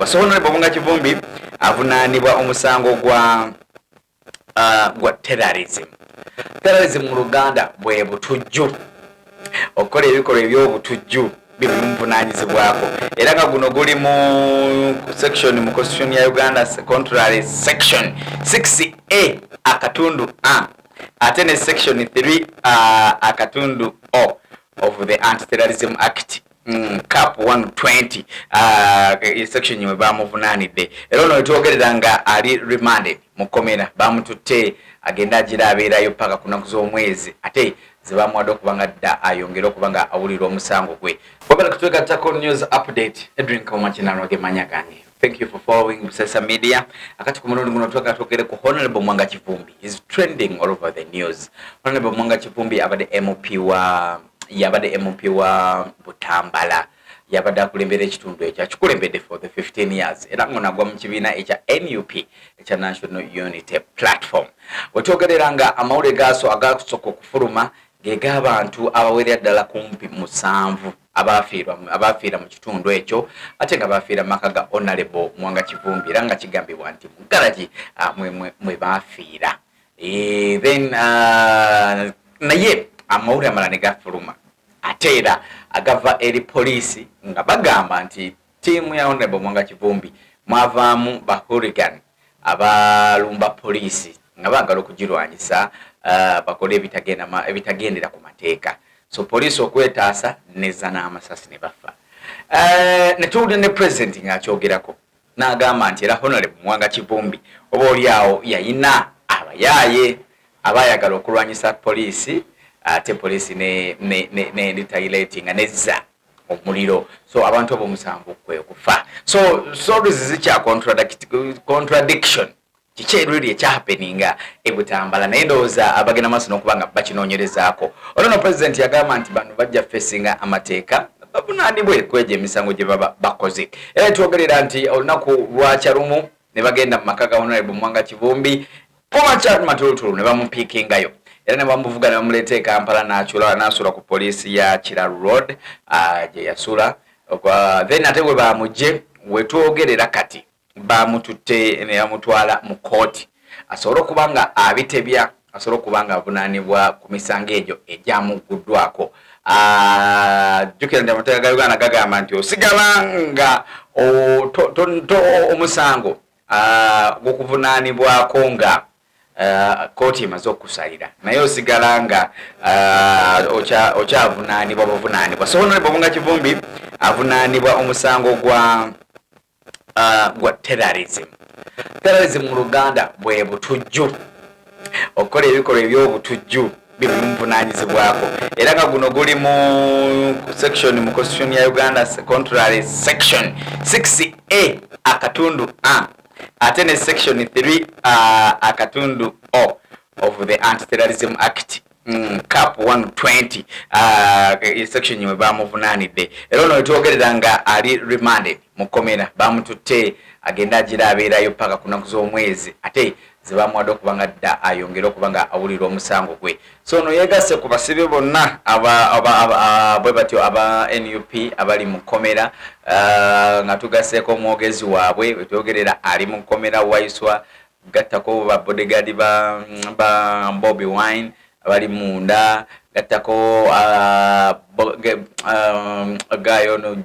so honorable bunga kivumbi avunaanibwa omusango gwa uh, gwa terrorism terrorism mu luganda bwe butujju okukola ebikolwa ebyobutujju byebimuvunaanyizibwako era nga guno guli mu section mu constitution ya uganda contrary section 6 a akatundu a ate ne section 3 uh, akatundu o of the anti terrorism act Mm, cap 120 uh, e section yimwe bamuvunanidde era ono wetwogerera nga ali remanded mu komera bamututte agenda agira abeerayo paka ku nnaku z'omwezi ate zebamuwadde okuba nga dda ayongere okuba nga awulira omusango gwe wagala kutwegattako news update edrin kauma kinanwa gemanya gange Thank you for following Busesa Media. Akati ku mulundi guno twagala twogere ku Honorable Mwanga Kivumbi is trending all over the news. Honorable Mwanga Kivumbi abadde MP wa yabadde MP wa Butambala yabadde akulembera ekitundu ekyo akikulembedde for the 15 years era ngono agwa mu kibiina ekya nup ekya national unity platform wetwogerera nga amawulire gaaso agakusooka okufuluma gegabantu abawerera ddala kumpi musanvu abaafiira mu kitundu ekyo ate nga baafiira mu maka ga Onalebo Mwanga Kivumbi era nga kigambibwa nti mu garagi ah, mwe baafiira eh, then ah, naye amawulire amala ne gafuluma ate era agava eri poliisi nga bagamba nti Team ya Honorable Mwanga Kivumbi mwavaamu ba hooligan abalumba poliisi nga baagala okugirwanyisa uh, bakole ebitagendera ku mateeka so poliisi okwetaasa neza n'amasasi ne bafa uh, netuwulira ne president ng'akyogerako n'agamba nti era honorable mwanga kivumbi oba oli awo yayina abayaaye abayagala okulwanyisa poliisi ate poliisi ne, ne, ne, ne retailatinga nezza omuliro so abantu abo omusango kwekufa so stories zikya contradiction kiki eriri ekyahapeninga ebutambala naye ndowooza abagenda maaso nokuba nga bakinonyerezaako olwono president yagamba nti bano bajja fesinga amateeka bavunanibwe kwejo emisango gye baba bakoze era netwogerera nti olunaku lwakya lumu ne bagenda mu maka ga honorable mwanga kivumbi Former Chad Matulutulu ne bamupiikingayo era ne bamuvuga ne bamuleeta e Kampala n'akyula n'asula ku poliisi ya Kira Road ah, gye yasula then ate bwe baamugye we twogerera kati baamututte ne bamutwala mu kkooti asobole okuba nga abitebya asobole okuba nga avunaanibwa ku misango egyo egyamugguddwako ah, jjukira nti amateeka ga uganda gagamba nti osigala nga omusango gukuvunanibwako ah, nga kkooti ah, emaze okukusalira naye osigala nga ah, okyavunanibwa buvunanibwa so honorable bunga kivumbi avunanibwa omusango gwa gwa terrorism terrorism mu luganda bwe butujju okukola ebikolwa ebyobutujju bimuvunanyizibwako era nga guno guli mu section mu constitution ya uganda contrary section 6a akatundu a ate ne section 3 uh, akatundu o of the antiterrorism act Mm, cap 120 uh, e section we bamuvunanidde era ono wetwogerera nga ali remanded mukomera bamututte agenda agira abeerayo paka kunaku z'omwezi ate zebamuwadde okuba nga dda ayongere okuba nga awulira omusango gwe so ono yegasse ku basibe bonna bwe batyo aba nup abali mu kkomera uh, nga tugasseeko omwogezi waabwe wetwogerera ali mu kkomera waiswa gattako ba bodegaadi ba bobi wine abali munda gattako gayo ono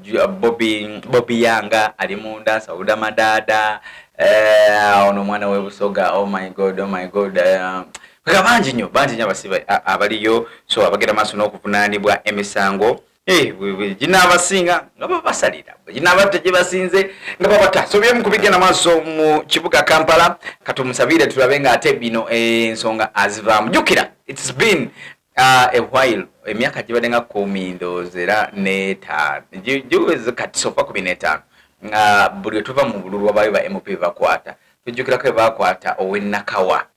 bobi yanga ali munda sauda madaada eh, ono omwana webusoga oh my god oh my god eh, nga bangi nyo bangi nyo abasibe abaliyo so abagenda maaso n'okuvunaanibwa emisango Eh, ginaabasinga nga babasalira ginaabatta gyebasinze nga babatta so byemu kubigenda maaso mu kibuga kampala katumusabire tulabe nga ate bino eh, ensonga azivaamu jukira its been uh, a while emyaka gibadde nga kumi ndoozi era netaano giweze kati sofa kumi netaano nga buli wetuva mu bululu wabayo ba mp bakwata tujjukirako ebakwata owenakawa